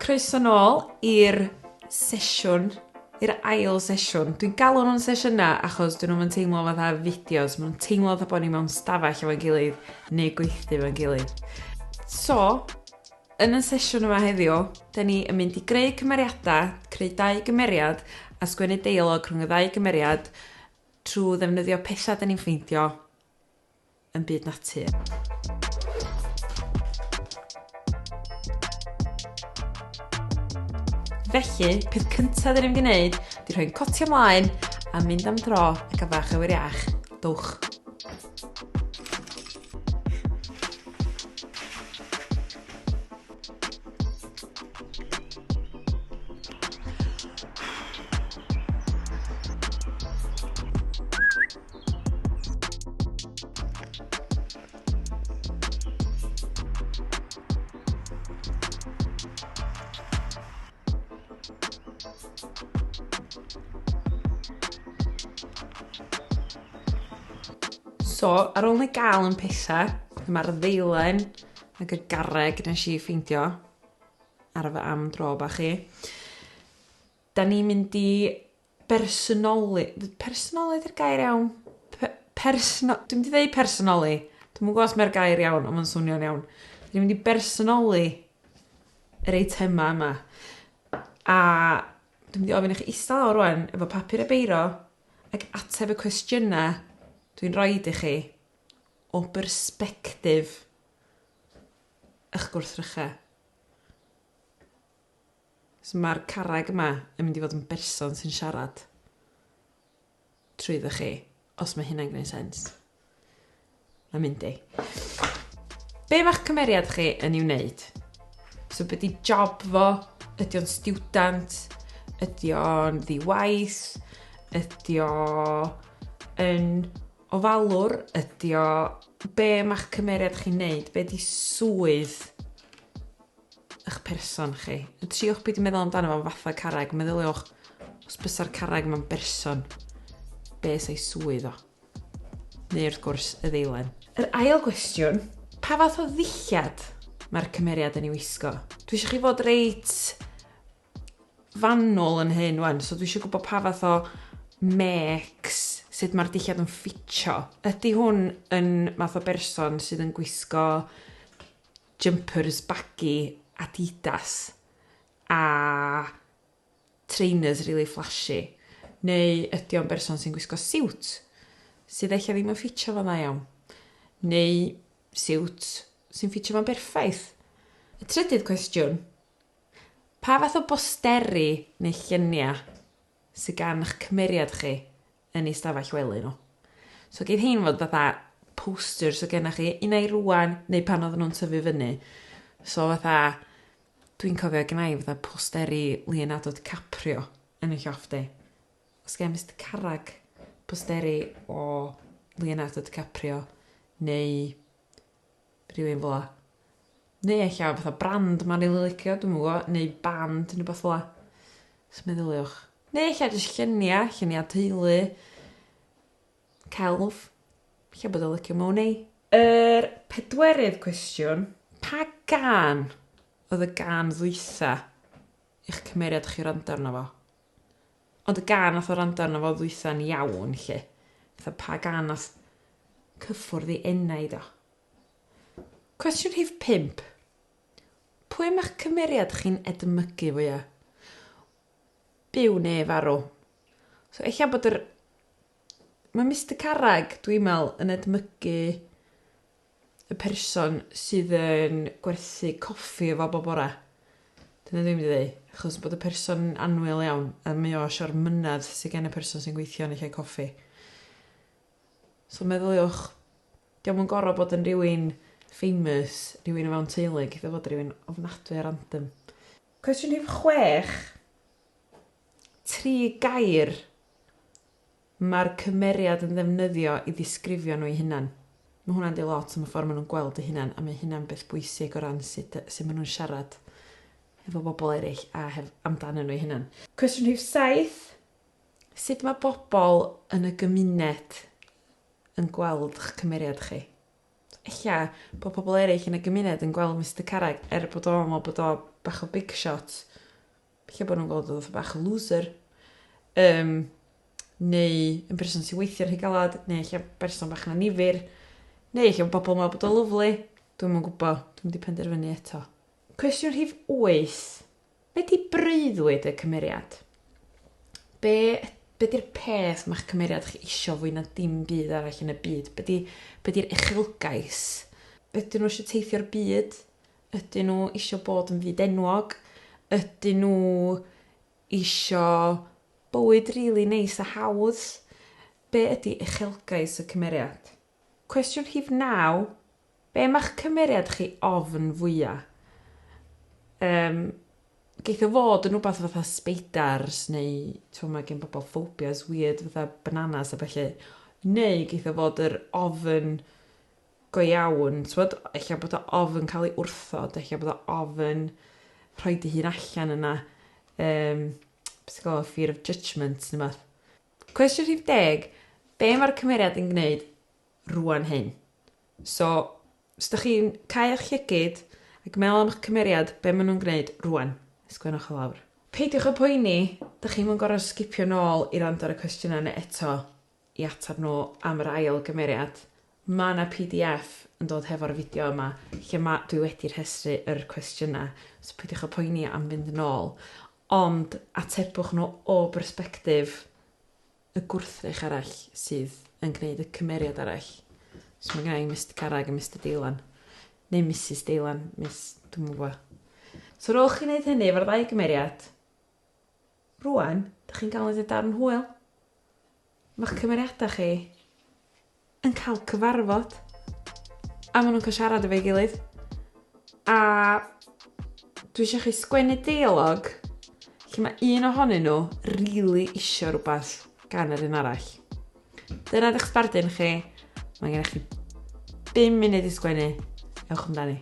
Croeso nôl i'r sesiwn, i'r ail sesiwn. Dwi'n galw nhw'n sesiynau achos dyn nhw'm yn teimlo fatha fideos, maen nhw'n teimlo fatha bod ni mewn stafell efo'n gilydd neu gweithdy efo'n gilydd. So, yn y sesiwn yma heddiw, dyn ni yn mynd i greu cymeriadau, creu dau gymeriad a sgwennu deilog rhwng y ddau gymeriad trwy ddefnyddio pethau dyn ni'n ffeindio yn byd natur. Felly, peth cyntaf dyn ni'n mynd i wneud, di rhoi'n cotio mlaen a mynd am dro ac a fach awyr iach. Dwch! So, ar ôl ni gael yn pesa, mae'r ddeilen ac y garreg nes i ffeindio ar y fy am dro bach i. Da ni'n mynd i bersonoli- personoli 'di'r gair iawn? Pe- persno- dwi mynd i ddeu personoli. Dwi'm yn gwbo os mae'r gair iawn ond ma'n swnio'n iawn. Dwi'n mynd i bersonoli yr eitema yma. A dwi'n mynd i ofyn i chi ista lawr rŵan efo papur a beiro ac ateb y cwestiyna dwi'n roid i chi o bersbectif 'ych gwrthrycha. So mae'r carreg yma yn mynd i fod yn berson sy'n siarad trwyddo chi, os mae hynna'n gwneud sens. Mae'n mynd i. Be mae'ch cymeriad chi yn ei wneud? So beth di job fo? Ydy o'n student? Ydy o'n ddiwaith? Ydy o yn ofalwr? Ydy o... Be mae'ch cymeriad chi'n neud? Be di swydd 'ych person chi. Yn triwch peidio meddwl amdano fo'n fatha carreg, meddyliwch os bysa'r carreg yma'n berson, be sa'i swydd o? Neu wrth gwrs y ddeilen. Yr ail gwestiwn, pa fath o ddillad mae'r cymeriad yn ei wisgo? Dwi eisiau chi fod reit fanwl yn hyn wan, so dwi eisiau gwybod pa fath o mecs, sut mae'r dillad yn ffitio. Ydy hwn yn math o berson sydd yn gwisgo jumpers baggy Adidas a trainers rili flashy, neu ydy o'n berson sy'n gwisgo siwt sydd ella ddim yn ffitio fo'n dda iawn, neu siwt sy'n ffitio fo'n berffaith? Y trydydd cwestiwn, pa fath o bosteri neu lluniau sydd gan eich cymeriad chi yn ei stafell wely nhw. So geith hein fod fatha posters o gennych chi, un ai rwan neu pan oedden nhw'n tyfu fyny. So fatha, dwi'n cofio gynna i fatha posteri Leonardo DiCaprio yn y lloff di. Os gen Mr Carrag posteri o Leonardo DiCaprio neu rhywun fel 'a. Neu ella fatha brand ma' rili licio dwi'm yn gwbo neu band ne' wbath fel 'a. Jys meddyliwch. Neu ella jys llunia' llunia' teulu. Celf. Ella bod o licio Money. Yr pedwerydd cwestiwn, pa gân oedd y gân ddwytha' i'ch cymeriad chi wrando arno fo? Ond y gan nath o rando arno fo ddwytha'n iawn 'lly. Fatha pa gan nath cyffwrdd ei enaid o? Cwestiwn rhif pump. Pwy ma'ch cymeriad chi'n edmygu fwya? Byw ne' farw? So ella bod yr... Mae Mister Carreg, dwi'n me'wl, yn edmygu y person sydd yn gwerthu coffi efo bob bore. Dyna dwi'n mynd i ddeu, achos bod y person yn annwyl iawn, a mae o eisiau'r mynedd sydd gen y person sy'n gweithio yn y lle coffi. So meddyliwch, diolch yn gorau bod yn rhywun famous, rhywun o fewn teulu, gyda fod rhywun ofnadwy a random. Cwestiwn rhif chwech. Tri gair Mae'r cymeriad yn ddefnyddio i ddisgrifio nhw'i hunan. Mae hwnna'n dweud lot am y ffordd maen nhw'n gweld eu hunan, a mae hynna'n beth bwysig o ran sut y- sut maen nhw'n siarad efo bobl eraill a hef- amdanyn nhw'u hunan. Cwestiwn rhif saith, sut mae bobl yn y gymuned yn gweld 'ch cymeriad chi? Ella bod pobl eraill yn y gymuned yn gweld Mister Carreg, er bod o'n meddwl bod o bach o big shot, lle bod nhw'n gweld oedd fatha bach o looser, um, neu yn berson sy'n weithio'n rhy galad, neu lle berson bach yn anifir, neu lle bobl yn meddwl bod o lyflu. Dwi'n mwyn gwybod, dwi'n mynd i penderfynu eto. Cwestiwn rhif 8. Be di breuddwyd y cymeriad? Be, be di'r peth mae'ch cymeriad chi isio fwy na dim byd arall yn y byd? Be di'r di, be di uchelgais? Ydyn nhw eisiau teithio'r byd? Ydyn nhw isio bod yn fyd enwog? Ydyn nhw isio bywyd rili neis a hawdd? Be ydi uchelgais y cymeriad? Cwestiwn rhif naw, be mae'ch cymeriad chi ofn fwya? Yym, geith o fod yn wbath fatha sbeidars neu t'mo' ma' gen bobl ffobias wierd fatha bananas a bellu, neu geith o fod yr ofn go iawn, t'mod, ella bod o ofn cael ei wrthod, ella bod o ofn rhoi dy hun allan yna, um, beth sy'n gwybod, fear of judgment neu beth. Cwestiwn rhif deg, be mae'r cymeriad yn gwneud rwan hyn? So, os ydych chi'n cael eich llygyd ac meddwl am eich cymeriad, be maen nhw'n gwneud rwan? Ysgrifennwch o lawr. Peidiwch y poeni, dych chi'n mynd gorau sgipio nôl i rand ar y cwestiynau neu eto. i ateb nhw am yr ail gymeriad. Mae 'na pdf yn dod hefo'r fideo yma lle ma'... dwi wedi rhestru yr cwestiynau, so peidiwch â poeni am fynd yn ôl, ond atebwch nhw o bersbectif y gwrthrych arall sydd yn gwneud y cymeriad arall. So mae gynna i Mister Carreg a Mister Deilan. Neu Misus Deilan, Miss... dwi'm yn gwybod. So ar ôl chi wneud hynny efo'r ddau gymeriad, Rŵan, dych chi'n galw hynny darn hwyl. Mae'ch cymeriadau chi yn cael cyfarfod a maen nhw'n cael siarad efo'i gilydd. A dwi eisiau chi sgwennu deolog lle mae un ohonyn nhw rili really isio rhywbeth gan yr un arall. Dyna'r eich sbardun chi. Mae gennych chi 5 munud i sgwennu. Ewch amdani.